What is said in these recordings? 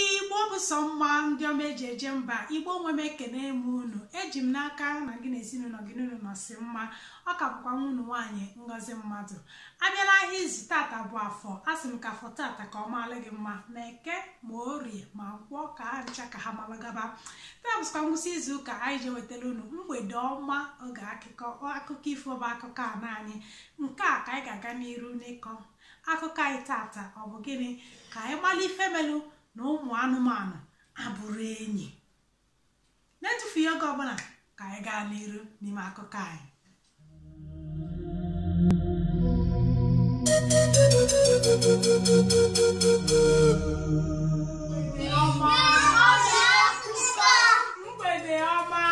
igbo bụ sọ mma ndị ọma eji eje mba igbo nwe m ekene m unu eji m n'aka na gị na ezinụlọ gị na unu nọsị mma ọ ka bụkwa nwa unu nwaanyị ngozi mmadụ abịala ahịa izu tata bụ afọ a sị m ka afọ tata ka ọ maala gị mma ma eke ma orie ma nkwọ ka ha ncha ka ha malagaba taa bụsịkwa ngwụsị izu ụka anyị ji ewetara unu mgbede ọma oge akụkọ ifo bụ akụkọ a naanị nke a ka anyị ga-aga n'iru n'ịkọ akụkọ anyị tata ọ bụ gịnị ka anyị mara ife melụ na ụmụ anụmanụ abụrụ enyi na-etufughị oge ọbụla ka anyị gaa n'iru n'ime akụkọ anyị mgbede ọma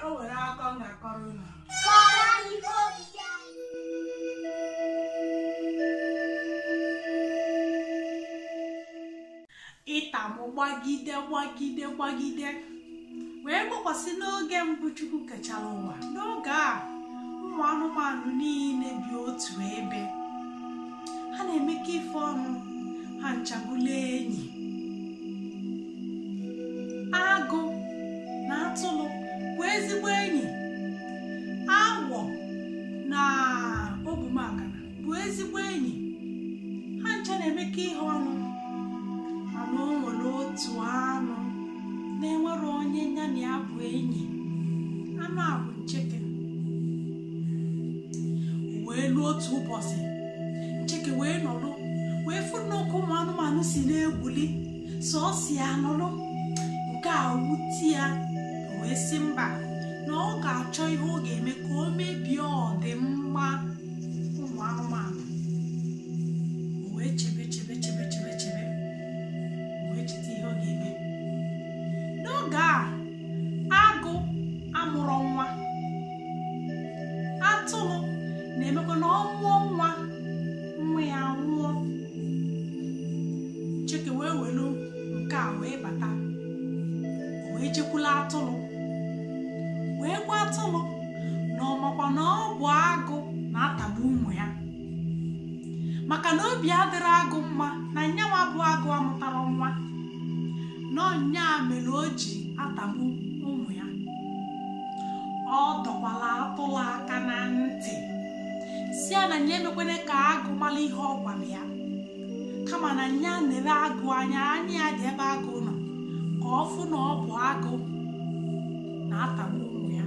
o nwere akụkọ m ga-akọrọ unu ịta mụ gbagide gbagide gbagide wee gbakwasị n'oge mbụ chukwu kechara ụwa n'oge a ụmụ anụmanụ niile bi otu ebe ha na-emekọ ife ọnụ ha ncha bụlụ enyi agụ na atụrụ bụ ezigbo enyi awọ na ogwumagana bụ ezigbo enyi ha ncha na-emekọ ihe ọnụ mana o nwere otu anụ na-enwere onye ya na ya bụ enyi anụ a bụ ncheke wee luo otu ụbọsị ncheke wee nọrọ wee fụ n'oke ụmụ anụmanụ si na-egwuli sọọsọ ya nọrọ nke a wute ya wee sị mba na ọ ga-achọ ihe ọ ga-eme ka o mebie ọdịmma ụmụ anụmanụ o wee chebe chebe chebe chebe chebe o wee cheta ihe ọ ga-eme n'oge a agụ amụrụ nwa atụrụ na-emekwa na ọ mụọ nwa nwa ya nwụọ ncheke wee welu nke a wee bata o wee jekwula atụrụ wee gwa atụrụ na ọ makwa na ọ bụ agụ na-atagbu ụmụ ya maka na obi adịrị agụ mma na nyanwa bụ agụ amụtara nwa na ọ nya mere o ji atagbu ụmụ ya ọ dọkwala atụlụ aka na ntị sị ya na nya emekwene ka agụ mara ihe ọ gwara ya kama na ya nere agụ anya anya ya dị ebe agụ nọ ka ọ fụ na ọ bụ agụ na-atagbu ụmụ ya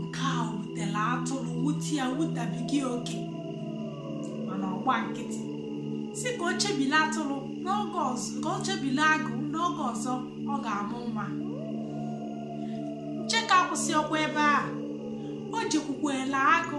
nke a wutelu atụrụ wute ya wute ebighị oke mana ọ gba nkịtị sị ka o chebile atụrụ n'oge ọzọ ka o chebile agụ n'oge ọzọ ọ ga-amụ nwa ncheke akwụsịọkwa ebe a o jekwukwela agụ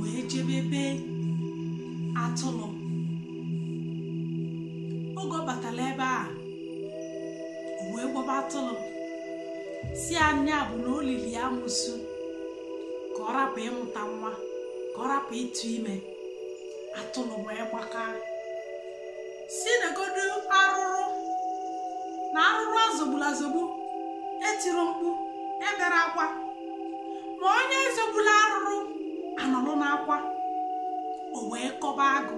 wee jebe ebe atụrụ oge ọ batara ebe a o wee gwaba atụrụ sị na nya bụ na o lili ya amusu ka ọ rapụ ịmụta nwa ka ọ rapụ ịtụ ime atụrụ wee gbakaa sị negodu arụrụ na arụrụ a zọgbulu azọgbu etiro mkpu ebero akwa ma onye zọgbulu arụrụ anọrụ na-akwa o wee kọba agụ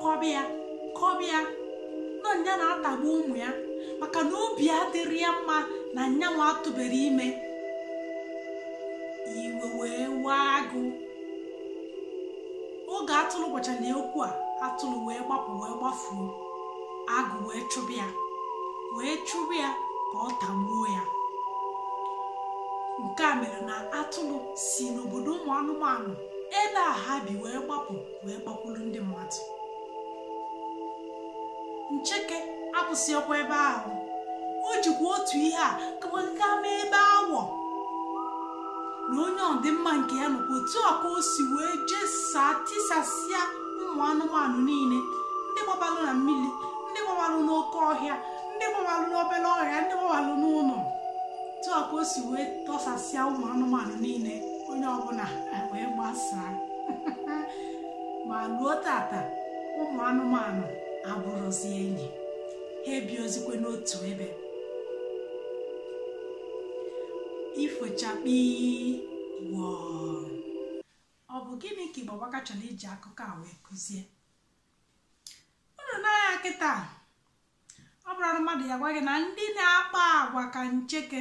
kọba ya kọba ya na nya na-atagbu ụmụ ya maka na obi adịrọ ya mma na nyanwa atụbero ime iwe wee waa agụ oge atụrụ gwachara ya okwu a atụrụ wee gbapụ wee gbafuo agụ wee chụba ya wee chụba ya ka ọ tagbuo ya nke a mere na atụrụ si n'obodo ụmụ anụmanụ ebe a ha bi wee gbapụ wee gbakwuru ndị mmadụ ncheke akwụsịọkwa ebe ahụ o jikwa otu ihe a kama gaa mee ebe awọ na onye ọdịmma nke ya nọkwa otu a ka o si wee jesaa tisasịa ụmụ anụmanụ niile ndị gbabalụ na mmiri ndị gbabalụ n'oke ọhịa ndị gbabalụ n'obere ọhịa ndị gbabalụ n'ụlọ otu a ka o si wee tisasịa ụmụ anụmanụ niile onye ọbụla wee gbasaa ma ruo tata ụmụ anụmanụ abụrọzi enyi ha ebiozikwe n'otu ebe ifo chakpii wọọ ọ bụ gịnị ka Igbo Amaka chọrọ iji akụkọ a wee kụzie unu n'anya kịta ọ bụrụ na mmadụ bịa gwa gị na ndị na-akpa agwa ka ncheke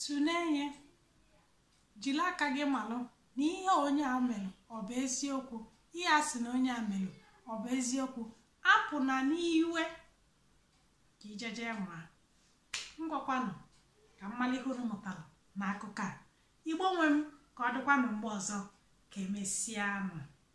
tụlee ihe jiri aka gị malụ na ihe onye a melụ ọ bụ eziokwu ihe a sị na onye a melụ ọ bụ eziokwu apụna n'iwe ka ijeje nwa ngwakwanụ ka m malụ ihe unu mụtara na akụkọ a igbo nwe m ka ọ dịkwanụ mgbe ọzọ ka emesịanụ